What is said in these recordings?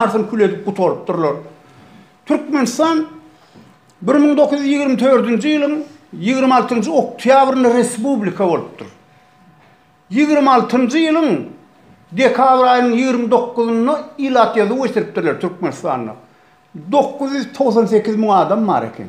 Arsyny kül edip gutarypdyrlar. Türkmenistan bir müň dokuz ýüz ýigrimi dördünji ýylyň ýigrimi altynjy oktýabrynda respublika bolupdyr. Ýigrimi altynjy ýylyň dekabr aýynyň ýigrimi dokuzynda ilat ýazuw geçiripdirler Türkmenistanda. Dokuz ýüz togsan sekiz müň adam bar eken.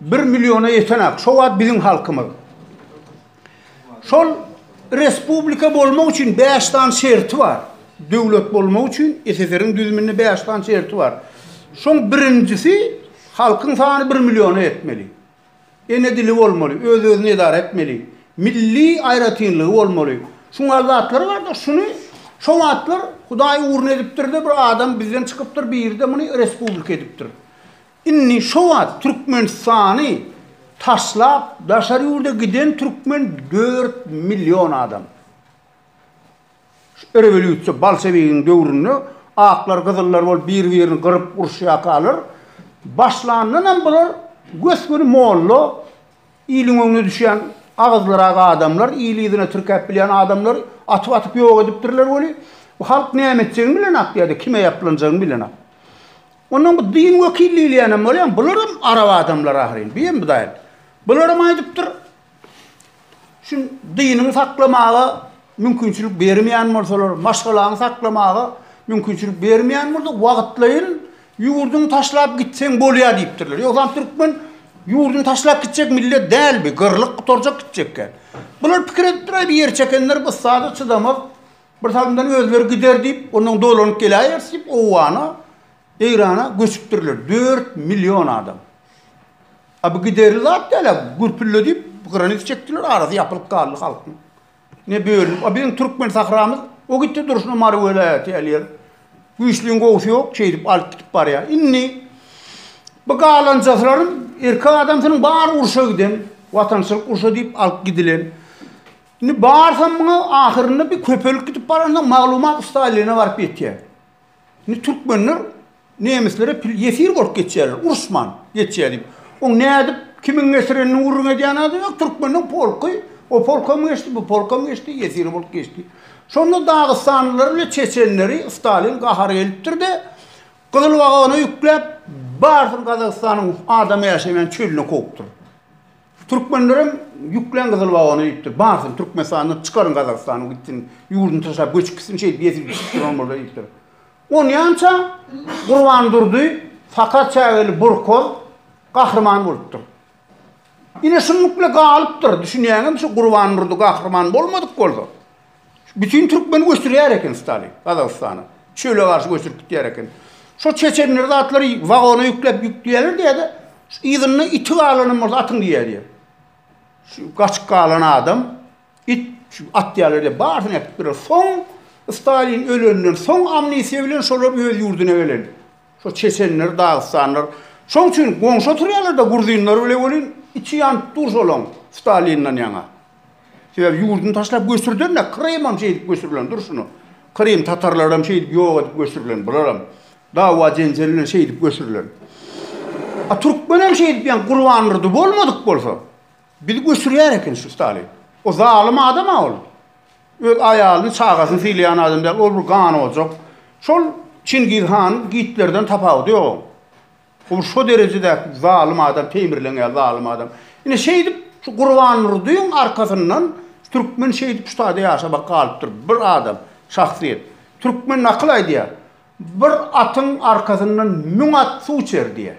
Bir milliona ýeten-ak, şo wagt biziň halkymyz. Şol respublika bolmak üçin bäş sany şerti bar. Döwlet bolmak üçin SSR-iň düzüminde bäş sany şerti bar. Şoň birinjisi halkyň sany bir milliona ýetmeli. Ene dili bolmaly, öz-özüni edara etmeli, milli aýratynlygy bolmaly. Şuň ýaly zatlar bar-da, şuny şo wagtlar Hudaý ugruna edipdir-de, bir adam bizden çykypdyr, biri-de muny respublika edipdir. Indi şo wagt Türkmenistany taşlap daşary ýurda giden türkmen dört million adam. Şu rewolýusiýa bolşewigiň döwründe aklar gyzyllar bolup bir birini gyryp uruşýakalar başlandanam bular gös-göni molla iliň öňüne düşýän agyzlyrak adamlar ili yzyna tirkäp bilýän adamlar atyp atyp ýok edipdirler weli bu halk näme etjegini bilenok ýada kime ýaplanjagyny bilenok. Ondan bu din wekili diýilýänem bolýar, bularam arap adamlary ahyryn, bu hem Hudaýyň. Bularam aýdypdyr, şu diniňi saklamaga mümkinçilik bermeýän bolsalar, maşgalaňy saklamaga mümkinçilik bermeýän bolsa, wagtlaýyn ýurduňy taşlap gitseň bolýar diýipdirler. Ýogsam türkmen ýurduny taşlap gitjek millet däl bi, gyrlyp gutarjak gitjekkä. Bular pikir edipdir-aý, bir ýer çekenler bu ussada çydamaz, Bir salymdan özleri gider diýip, ondan dolanyp geläýeris diýip, Owgana, Eýrana göçüpdirler. Dört million adam. A bu giderli zat däl-ä, gürpülle diýip, granit çekdiler, arasy ýapylyp galdy halkyň. Ne bölünip, a biziň türkmen sahramyz o gitdi durşuna Mary welaýaty ýaly ýer. Güýçlüň gowusy ýok, şeýdip alyp gidip barýar. Indi bu galanjaslarym erkek adamsynyň bary urşa giden, watançylyk urşy diýip alyp gidilen. Indi barsam muňa ahyrynda bir köpelip gidip baransoň maglumat Staline baryp ýetýär. Indi türkmenler nemislere pil ýesir bolup geçýärler, uruşman geçýär diýip. Oň nädip, kimiň getirenini gürrüň edýän adam ýok, türkmeniň polky, o polkam geçdi, bu polkam geçdi, ýesir bolup geçdi. Şonda dagystanlylary bilen çeçenleri Stalin gahary gelipdir-de, gyzyl wagona ýükläp, barysyny Gazagystanyň adam ýaşaýan çölüne kowupdyr. Türkmenlerem ýüklen gyzyl wagona diýipdir. Barsyn Türkmenistandan çykaryň Gazagystanyň gitsin. Ýurduny taşlap göçüp gitsin şeýdip ýesip içip duran bolsa diýipdir. Onýança Gurban Durdy sakar çägeli burkoz gahryman bolupdyr. Ine şunlukla galypdyr. Düşünýäňizmi şu Gurban Durdy gahryman bolmadyk bolsa. Bütin türkmeni göçürýär eken Stalin Gazagystana. Çöle garşy göçürip gitýär eken. Şo çeçenler zatlary wagona ýükläp ýükleýärler diýýärdi. Yzynda iti galanam bolsa atyň diýýärdi. Şu gaçyp galan adam it şu atýarlar diýip barysyny äkitdiler. Soň Stalin ölenden soň amnistiýa bilen şolar öz ýurduna gelen. Şo çeçenler, dagystanlar. Şoň üçin goňşy oturýarlar-da gruzynlar bile welin içi ýanyp dur şolaň Stalinden ýaňa. Sebäbi ýurduny taşlap göçürdenler, Krymam şeýdip göçürilen, dur şuny. Krym tatarlaram şeýdip ýok edip göçürilen, bularam dawa-jenjel bilen şeýdip göçürilen. A türkmenem şeýdip ýan Gurbanurdy bolmadyk bolsa, bizi göçürýär eken şu Stalin. O zalym adam-a ol. Öz aýalyny, çagasyny sylaýan adam däl, ol bir ganojak. Şol Çingiz han, Gitlerden tapawudy ýok oň. Ol şo derejedäki zalym adam Teýmirleňýar zalym adam. Ine şeýdip şu Gurbandurdyň arkasyndan türkmen şeýdip şu taýda ýaşabak galypdyr. Bir adam, şahsyýet. Türkmen nakyl aýdýar, Bir atyň arkasyndan müň at suw içer diýýär.